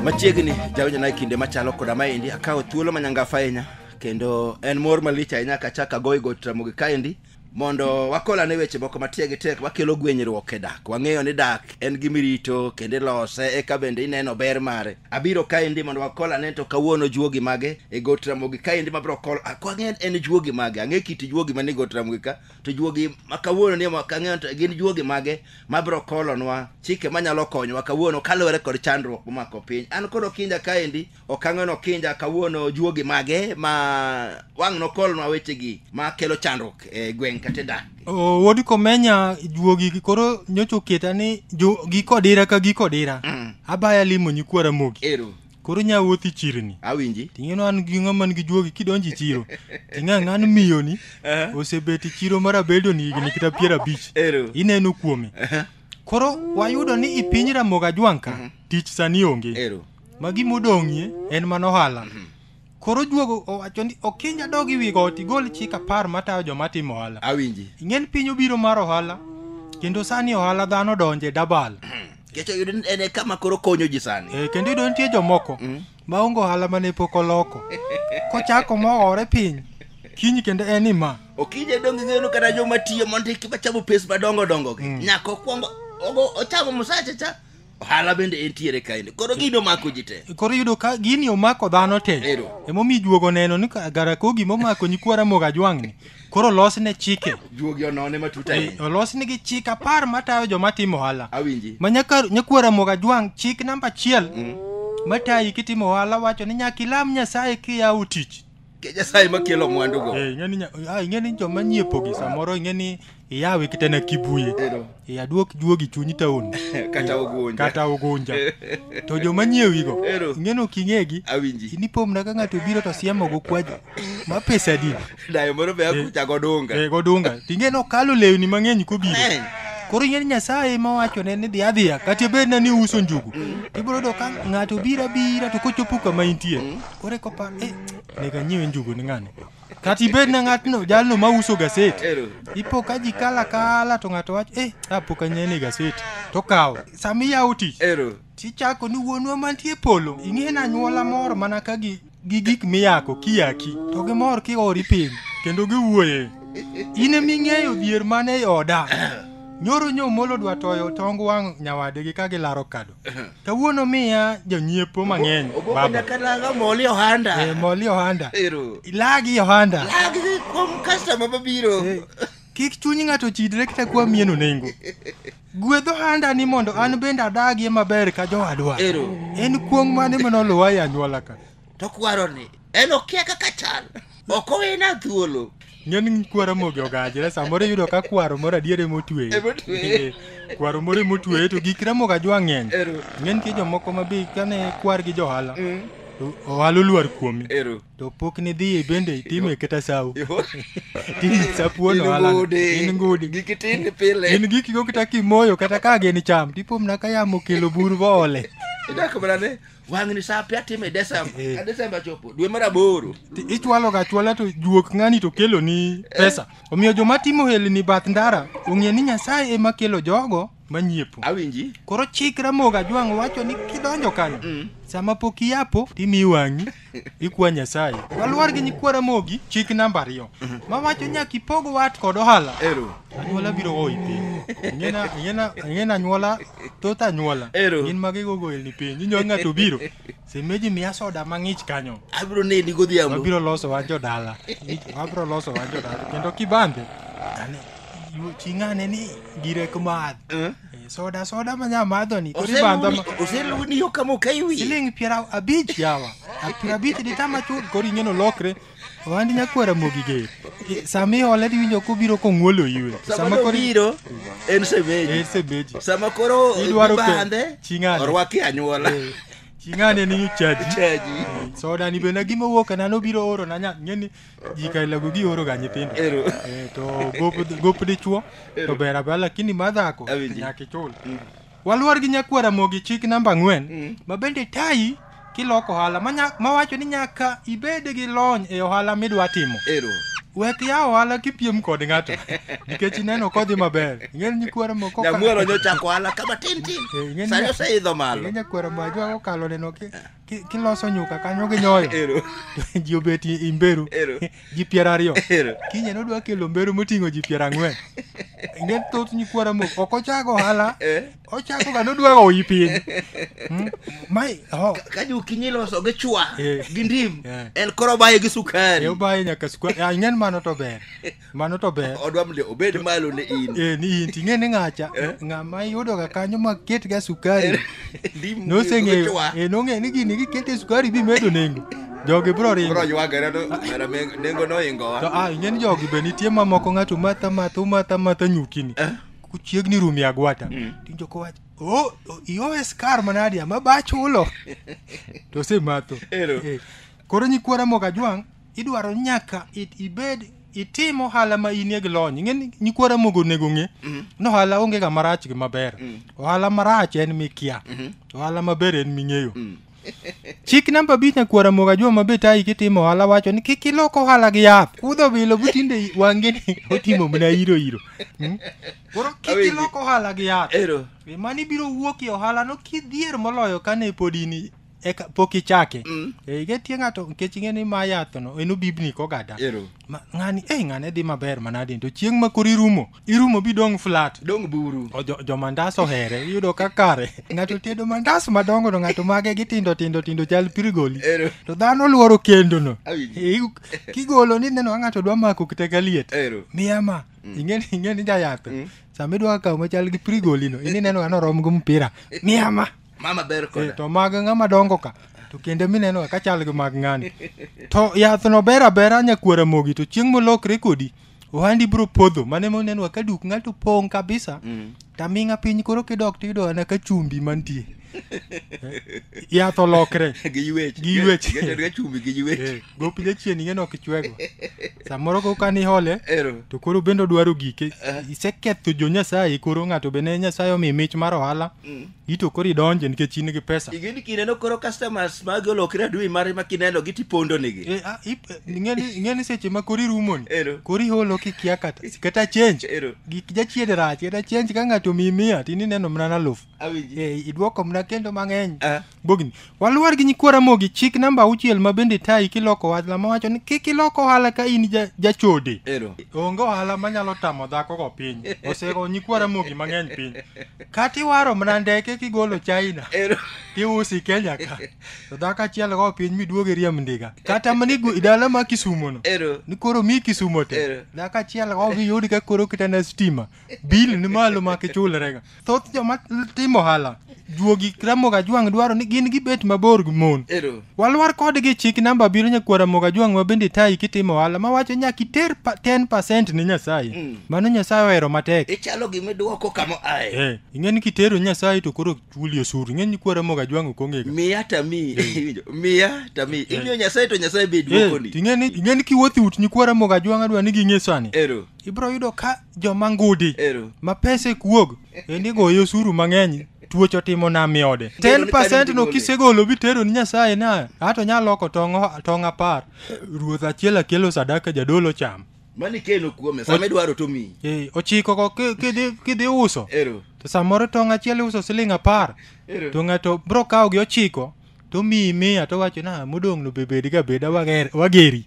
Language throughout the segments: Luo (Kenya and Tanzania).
machiegni jawinjona e kinde machalo koda maendi akawo thuolo manyangafa ahinya kendo en mor malich ahinya kachak agoyi go tramogi kaendi mondo wakolane weche moko matiegi tek makelo gwenyruok e dak wang'eyo ni dak en gimirito kendo ilose eka bende ineno ber mare Abiro kaendi mondo wakol ane to kawuono juogi mage e got Ramogi kaendi mabiro kol ako ang'e en juogi mage ang'e kit juogi mane got Ramogi ka to juogi ma kawuono ni ok ang'e to gin juogi mage mabiro kolonwa chike manyalo konyowa kawuono kaluwore kod chandruok momako piny an kod Okinja kaendi ok ang'e no Okinja kawuono juogi mage ma wang' nokolnwa wechegi ma kelo chandruok e gweng' kata e dak Oh, wuod komenya juogi koro nyocha oketa ni jo- giko dira ka giko dira Mm. abaya limo nyikwara mogi Ero. koro nya wuothi chirni Awinji. ting'eno an gi ng'ama nigi juogi kidonji chiro ting'a ng'an miyoni Eh. osebet e chiro mar abedoni higni kata piero abich Ero. ineno kuome koro wayudo ni i piny ramoga jwanka tich sani onge Ero. ma gimodong'ie en mana ohala Koro juogo owacho ni okinja dog i wi got igol chik apar matayo joma timo ohala. Awinji. Ing'eni piny obiro mar ohala kendo sani ohala dhano donje dabal. Kecho yudo ni en e kama koro konyo ji sani. Eh, kendo yudo nitie jomoko Mm. ma onge ohala mane pok oloko. Kochako mohore piny kiny kendo en ni ma. Okinja dong ing'eyo ni kata joma tiyo mondiki machamo pes madongo dongo gi. Mm. Nyaka okwongo ogo ochamo msache cha ohala bende entiere kaendi koro gini omako ji te koro yudo ka gini omako dhano te Ero. emomiyo juogo neno ni ka- garakogi momako nyikwa ramogi ajwang'ni koro losne chike juogi onone matut Eh, ahinya olosnigi chik apar matayo joma timo ohala awinji ma nyaka nyakwa ramogi ajwang' chik namba achiel matayi kitimo ohala wacho ni nyaka ilam nyasaye kiyawo tich Ke Nyasaye makelo mwandugo. Eh, ing'e ni nya- ah, ing'e ni joma nyiepogi samoro ing'e ni iyawe kata na kibuye Ero. iyaduok juogi chunyi taon Kata ogunja. kata ogunja to joma nyiewigo Ero. ing'e ni ok ing'egi Awinji. inipomna ka ng'ato obiro to siemogo kwaji ma pesa din Dayo moro be akucha godunga. e godunga ting'e ni okalo lewni mang'eny kobiro Ng'eny. koro ing'e ni nyasaye ma wachone ni dhi adhiya kata bedna ni uso njugu ibiro yudo ka ng'ato biro abira to kochopo kama intie ore kopa eh, nega nyiewe njugu ni ng'ani kata ibed na ng'atno jalno ma uso gaset ipo ka ji kala kala to ng'ato wacho eh apo ka nyene gaset to kawo sama iyawo tich tichako ni wuonwa mantie e polo ing'e na anyuola moro mana ka gi gi gik miyako kiyaki to gimor kiori piny kendo giwuoye in ema ing'eyo dhier mane e oda nyoro nyomolo dwa toyo tong wang' nyawadegi ka gilaro kado Kawuono miya jonyiepo mang'eny Ogogo baba. nyaka nanga moli ohanda. Eh, moli ohanda. Ero. Ilagi ohanda. Lagi kuom customer mabiro. Kik chuny ng'ato chidre kata kwa mieno nengo. Gwedh ohanda ni mondo an bende adagie maber ka jowadwa. Ero. En kuong' mane manoluwa e anyuola ka. to kwaro ni en okia kaka chal ok owena thuolo nyon kwaro mogi ogajre samoro iyudo ka kwaro moro adier ema otweye Ema otweye. Eh, kwaro moro ema otweye to gik ramogi ajwa ng'eny Ero. ng'e nitie jomoko ma be kane kwar gi johala to ohala olwar kuomi ero to pok nidhiye bende itime kata sawo tini sapuon ohala in ngudi giki tin pile in giki go kata kimoyo kata ka gin cham tipomna ka yamo kelo bur boole idak mana ne wang'ni saa pe atimo e desemba Eh. ka desemba chopo dwe mar aboro Ti- ichwalo ga chwala to juok ng'ani to kelo ni pesa omiyo joma timo helni bath ndara ong'e ni nyasaye ema kelo jogo manyiepo awinji koro chik ramogi ajwang' wacho ni kidonjo kanyo Mm. sama pok iyapo timi wang'i ikwa nyasaye waluor gi nyikwa ramogi chik namba ariyo mawacho nyaka ipog wat kod ohala ero anyuola biro goyi piny ing'ena ing'ena ing'ena anyuola thoth anyuola Ero. gin ma gigogo elni piny inyo ng'ato biro semeji miya soda mang'ich kanyo abiro neni godhiambo wabiro loso wan jodala wabiro loso wan jodala kendo kibambe ane yu- ching'ane ni gire kumadh Eh? Eh, soda soda ma nya madho ni koro ibandha ma oseluwni yo kama okaiwi siling' piero abich yawa piero abich ditama chuth koro ing'eno lokre Ohand nyakwar Ramogi ger. I- Sama iole to iwinjo kobiro kong'wolo iwe. Sama koro obiro en semeji. En semeji. Sama koro Idwaro ke- ibandhe ching'ane. orwaki anyuola. Ching'ane ni chaji. Chaji. Soda ni bende gima owuok na nobiro oro na nya ngeni ji ka lago gi oro ga nyithindo. Ero. Eh, to gop gop dichuo to ber abela lakini madhako Awinji. nyaka ichul. Waluor gi nyakuo Ramogi chik namba ang'wen mm. ma bende tayi kiloko ohala mawacho ni nyaka ibed gi lony e ohala midwa timo. Ero. Wek ya ohala kipiem kod ng'ato nikech ineno kodhi maber. Ing'eni nyikwara moko ka. Nyamuoro nyochako ohala kama tin tin. Eh, Sani oseidho malo. Nyakwara ma jwa okalo neno ki. Ki- kiloso nyuka kanyo gi nyoyo Ero. ji obet i- i mberu Ero. ji piero ariyo Ero. kinye nodwa kelo mberu moting'o ji piero ang'wen nge thoth nyikwara mok ok ochako ohala Eh. ochako ga nodwa oyi piny Hmm? mai oh, Ka jokinyi iloso gi chwa Eh. gi ndim. Eh. En koro baye gi sukari. e obaye nyaka sukari ing'en mano to ber mano to ber odwa mle obed malo ne in eh, ni in ting'e ni ng'acha eh? ng'ama iyudoga kanyo ma ketga sukari eh, noseng'eyo eh, nong'eyo ni gini gikete sukari bimedo nengo jogi bro ringo bro ywagere to mera nengo noingowa to ah ing'e ni jogi be nitie mamoko ng'ato matha matha umatha matha nyukini eh? kuchiegni rumi agwata mm. tinjo kowacho oh, oh iowe skar manadi ama bachulo to sematho eh. koro nyikwara mokajwang' idwaro ni nyaka it- ibed itim ohala ma inie gi lony ing'e ni nyikwa ramogo onego ng'e ni ohala onge ga marach gi maber ohala marach en mikia ohala maber en ming'eyo chik namba abich nyakwa ramogo ajua maber tayi kitimo ohala wacho ni kik ilok ohala gi yath kudho bilo butinde wange ni otimo mna iro iro Mm. koro kik Awinji. ilok ohala gi yath ero mani biro wuok e ohalano kidhier moloyo kane pod in eka pok ichake mm. e, getie ng'ato nikech ing'e ni ma yath no en obibni kogada Ero. Ma, ng'ani e ng'ane dhi maber manadi to chieng' ma koro irumo irumo bi dong flat dong buru o, jo, jo mandas ohere iyudo ka kare ng'ato tedo mandas madongo to ng'ato mage gi tindo tindo tindo chal pirigoli Ero. to dhano luoro kendo no Awinjo. E, igu- kigolo ni neno ka ng'ato dwa mako kite ka liet Ero. miya ma ing'eni ing'eni jayath sama idwa kawo machal gi pirigoli no ini neno ka norom gi mpira miya ma mama ber Eh, koda to mag ng'ama dongo ka to kende mineno ka chal gi mag ng'ani to yath no ber abera nyakwara mogi to chieng' molokre kodi ohandi biro podho mane monenwa ka duk ng'ato pong' kabisa Mm. taming'a piny koro kidok tiyudo ana ka chumbi mantie yath olokre gi yuech Gi yuech. ga chumbi gi yuech Eh, gopi jachien ing'e nok ichwego samoro ko kani hole ero to koro bende odwaro gike iseketho jo nyasaye koro ng'ato be ne nyasaye omi mich mar ohala Mm. ito koro idonje nikech in gi pesa igini kineno koro customers magi olokre adui mare ma kineno gi tipondo nigi Eh, ah, ip- eh, ing'eni ing'eni seche ma kori rumoni Ero. kori holo kikia kata kata change Ero. gik jachiede rach kata change ka ng'ato omiyi mia tini neno mana naluf awinji Eh, idwoko mna kendo mang'eny Ah. bogni Waluor gi nyikwa Ramogi chik namba auchiel ma bende tayi kiloko ohala mawacho ni kik ilok ohala ka in ja- jachode. Ero. Onge ohala manyalo tamo dhako go piny. Osego nyikwa Ramogi mang'eny piny. Kata iwaro mana ndeke kigolo China. Ero. Tiusi Kenya ka. To dhako achiel go piny miduoge riemb ndiga. Kata mani go- dala ma Kisumo no. Ero. Ni koro mi Kisumo te. Ero. Dhako achiel go giyud ka koro kitana stima. bil ni malo ma kichulrega thoth joma timo ohala juogi ramoga jwang' dwaro ni gin gibet mabor gi mon Ero. walwar kodgi chik namba abiriyo nyakwara moga jwang' ma bende tayi kitimo ohala ma wacho nyaka iter pa- 10 ne nyasaye Mm. mano nyasaye ohero matek Ichalo gima iduoko kama ae. Eh, ing'e ni kitero nyasaye to koro chuli osuru ing'e ni kwara moga jwang' ok ong'ega Miya tami. Iwinjo? Miya tami. Imiyo Nyasaye to Nyasaye be Eh, duokoni. ing'e ni ing'e ni kiwuotho ut nyikwara moga jwang' adwa ni ging'e sani Ero. ibro yudo ka joma ngudi Ero. ma pesa ek wuog endi goyo osuru mang'eny tuoch otimo nam e ode Neno ni 10% tani no gole. kisegolo bitero ni nyasaye na ato nyalo loko tong' o- tong' apar ruoth achiel akelo sadaka jadolo cham Mani keno kuome sama idwaro to miyi. Eh, ochiko ko ki- kidhi kidhi uso Ero. to samoro tong' achiel iuso siling apar Ero. to ng'ato bro kawo gi ochiko to miyi miya to wacho na modong' no bebed ga beda wager- wageri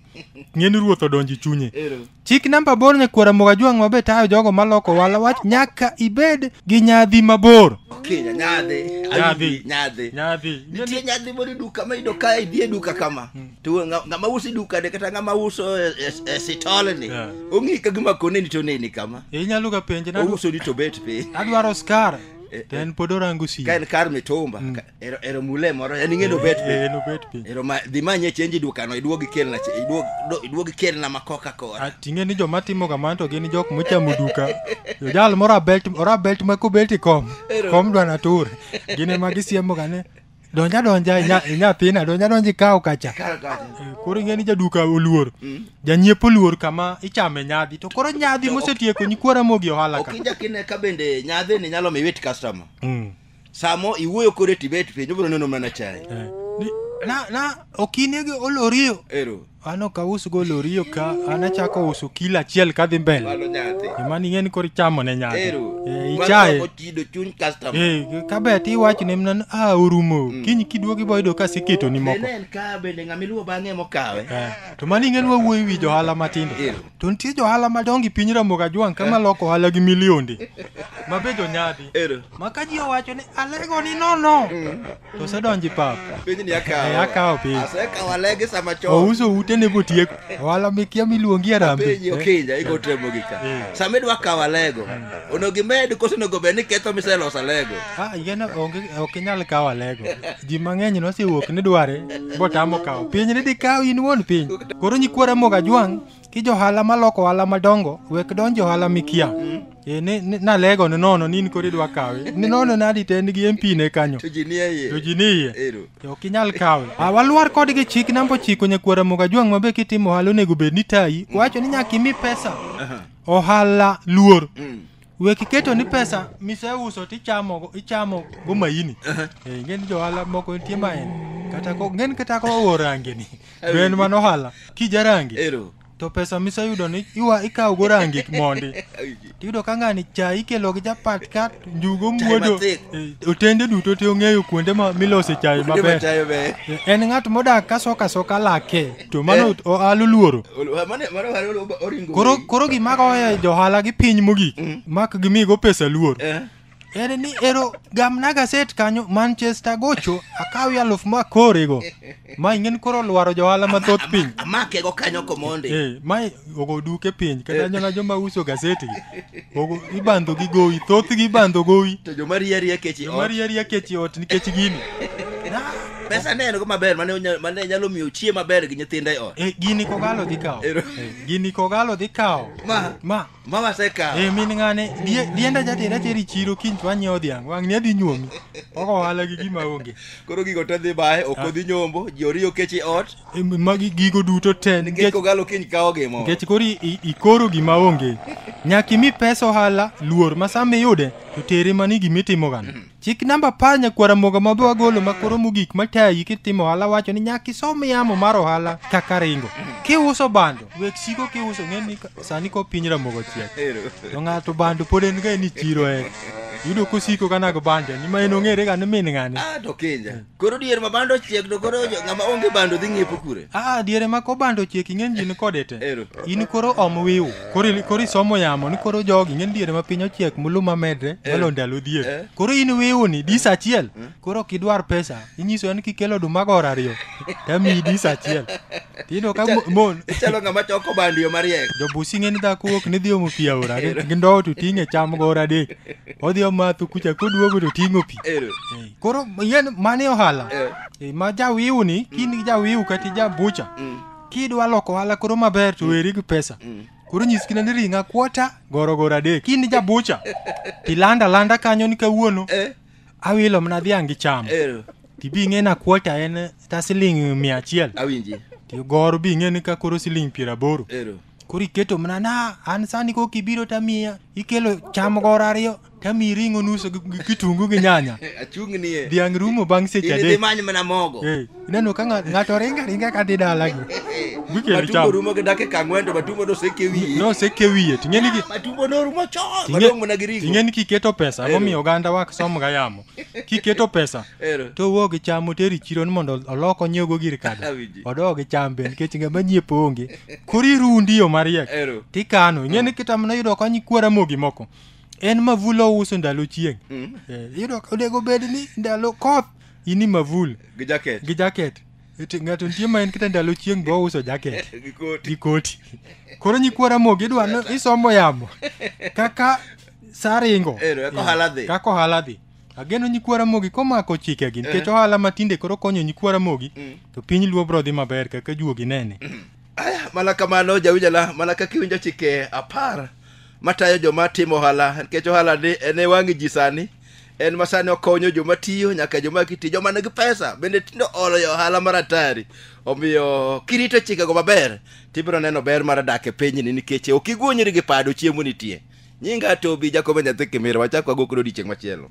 ng'eni ruoth odonjo e chunye Ero. chik namba bor nyakwara moga jwang' mabe tayo jogo maloko wala wach nyaka ibed gi nyadhi mabor Okay, nyadhi. Nyadhi. Nyadhi. nyadhi Nitie nyadhi moro e duka ma iyudo ka idhi e duka kama. To ng'a- ng'ama uso e duka de kata ng'ama uso e- e- e sitol ni. Yeah. Ong'i ka gima koneni to neni kama. inyalo ga penje na Ouso ni to bet piny. adwaro skar to en pod orango si Ka en kar mitumba. ka- ero ero mule moro en ing'e nobet Eh, piny nobet piny ero ma dhi manye chenji dukano iduog ikelna che- iduog do- iduog ikelna ma koka kora Ah, ting'e ni joma timo kamano to gin jok mochamo duka jal moro abelt moro abelt ma kobet i kom Ero. kom dwa natur gin ema gisiemoga ni donja donja inya- inyathina donja donja ikaw kacha Kar kacha. Eh, koro ing'e ni jaduka oluor janyiepo oluor kama ichame nyadhi to koro nyadhi mosetieko nyikwara mogi ohala ok ka injakine ka bende nyadhi ni nyalo mi wit customer Mm. samo iwuoyo kode tibet piny obiro neno mana chai Eh, ni- na na okinege olorio ero an ok ausgo olorio ka an achako uso kilo achiel kadhi mbele malo nyathi emani ing'e ni koro ichamo ne nyaka ero Eh, Mano ichaye ochido chuny customer Eh, kabe ti iwacho ne mnan a orumo kiny kiduogi boyudo ka siketoni moko bende en ka bende ng'ama iluwo bang'e mokawe Eh, to mani ing'e ni wawuoyi wi johala matindo ero to nitie johala madongo e piny ramoga jwang' kama loko ohala gi milionde ma be jonyadhi Ero. ma ka ji owacho ni alego ni nono to osedonji pap Piny ni akawo. Eh, akawo piny. Asekawo alege sama chon. ouso ute ne botiek ohala mikia miluongi Penyi arambe okinja igo temo gi ka. Eh. Sama idwa kawo alego, onego imed koso onego bed ni ketho miseloso alego. Ah, yien onge ok inyal kawo alego. Ji mang'eny nosewuok ni dware botamo kawo. Piny ni dikaw in wuon piny. Koro nyikwara moga jwang' ki johala maloko ohala madongo wek donjo ohala mikia. Eh, ni, ni, nalego ni nono ni in koro idwa kawe. Ni nono nadi to en gi MP ne kanyo. To ji nie iye. To ji ni iye. Ero. To ok inyal kawe. Ah, walwar kodgi chik namba ochiko nyakwara moga jwang' mabe kitimo ohala onego bed ni tayi. Wacho ni nyaka imi pesa. Ohala luor. Mm. we kiketo ni pesa miseuso tichamo ichamo go maini eh, ngeni johala moko nitie maini kata ko ngeni kata ko owo rangi ni to en mana ohala kija rangi Ero. to pesa miseyudo ni iwa ikawo go rangi mondi tiyudo ka ng'ani cha ikelo gi japat kat njugo Chai muodo mathith. eh, otende duto te ong'eyo kuonde ma milose chai Kuonde ma maber chayo ber. Eh, en ng'at modak kasoka soka lake to mano oalo luoro Mane mane wale oringo. koro koro gima goyo johala gi piny mogik mak gimigo pesa luor Eh. en ni ero gamna gaset kanyo manchester gocho akawi aluf ma korego ma ingen koro lwaro johala mathoth piny Amake go kanyo komonde. Eh, ma ogo duk e piny kata eh. nyana joma uso gazeti ogo ibandho gi gowi thoth gi ibandho gowi to joma riya riya kechi joma riya riya kechi ot nikech gini pesa ne en go maber mane mane nyalo miyo chie maber gi nyithinde ot eh gini kogalo dhi kawo eh, gini kogalo dhi kawo ma ma ma wase kawo eh min ngane dienda jatera teri chiro kiny to anyiewo dhiang wang ni adhi nyuomi ogo hala gi gima onge koro gigo te dhi bae ok odhi ah. nyombo ji oriyo kechi ot Em, magi gigo duto te nikech nikech kogalo kiny kawo gimo nikech koro i- i- ikoro gima onge nyaka imi pesa ohala luor ma sama iyude to tere mani gima itimogano chik namba apar nyakwara moga ma be wagolo ma koro mogik matayi kitimo ohala wacho ni nyaka isom yamo mar ohala kaka ringo kiuso bando wek siko kiuso ng'eni ka- sani ko piny ramogo chiek Ero. to ng'ato bando pod en ga ni chiro e yudo kosiko kanago bande ni ma en ong'ere ga ni min ng'ane Ah, to kinja Koro dier ma bando chiek to koro jo- ng'ama onge bando dhi ng'iepo kure. Ah, diere ma kobando chiek ing'eny ji ni kode te. Ero. In koro om wiu. Koro ili- koro isomo yamo ni koro jogi ing'eny diere ma piny ochiek muluma medre malo ndalo Eh. dier. Koro in wiu ni dis achiel. Koro kidwar pesa inyiso en kikelo oduma gor ariyo. Tamiyi dis achiel. Tino ka mo- mon Ichalo ng'ama choko bando yo mariek. jobusi ng'eni dhako wuok ni dhi omo pi aora gi gi ndowo to ting'e cham gor adek. Odhi omatho kucha koduogo to ting'o pi. Ero. Eh. koro yen mane ohala Eh. e, ma jawiu ni kini jawiu kati jabucha Mm. kidwa loko ohala koro maber to weri gi pesa Mm. koro nyis kina ni ringa kuota gorogoro adek kini jabucha tilanda landa kanyo ni kawuono Eh. awilo mna dhiang' gi cham Eh. tibi ng'e na kuota en ta siling mia achiel Awinji. tigoro bi ng'e ni ka koro siling piero aboro Eh. koro iketo mna na an sani kok ibiro tamiya ikelo cham goro ariyo tamiyi ring'o nuso gi gi kitungu gi nyanya achung' ni e dhiang' rumo bang' seche idhi adek many mana mogo Eh, ineno ka ng'a- ng'ato ringa ringa ka dhi dalagi Wiki matumbo richam. rumo gi dakika ang'wen to matumbo noseke wiye noseke wiye ting'eni gi matumbo norumo chon Tinge- madong' mana gi ringo ting'eni kiketo pesa Ero. momiyo oganda wa som ga yamo kiketo pesa Ero. to wuo gi cham oter e chiro ni mondo olok onyiewgo gir kado Awinji. odog gi cham be nikech ngama nyiepo onge koro irundi yo mariek Ero. tikano ing'eni kita mana yudo kony kuora mogi moko en mavul ouso ndalo chieng' Mm. Eh, iyudo ka onego bed ni ndalo koth ini mavul Gi jacket. gi jaket Eti ng'ato nitie ma en kata ndalo chieng' be ouso jaket Gi koti. gi koti koro nyikwa ramogi idwa ni isomo yamo kaka saringo Ero, eka ohala dhi. kaka ohala dhi ageno nyikwa ramogi komako chikegi nikech ohala matinde koro konyo nyikwa ramogi Mm. to piny luo bro dhi maber kaka juogi nene Aya, mana kamano jawinjala mana kaka iwinjo chike apar matayo joma timo ohala nikech ohala ni en e wang' ji sani en ma sani okonyo joma tiyo nyaka joma kitiyo joma nigi pesa bende tindo olo e ohala mar atari omiyo kirito chikego maber tibiro neno ber mar dak e pinyni nikech ok iguonyri gi pado chiemo nitie nyinga tobi jakobo nyathi kimira wachak wago kod odiechieng' machielo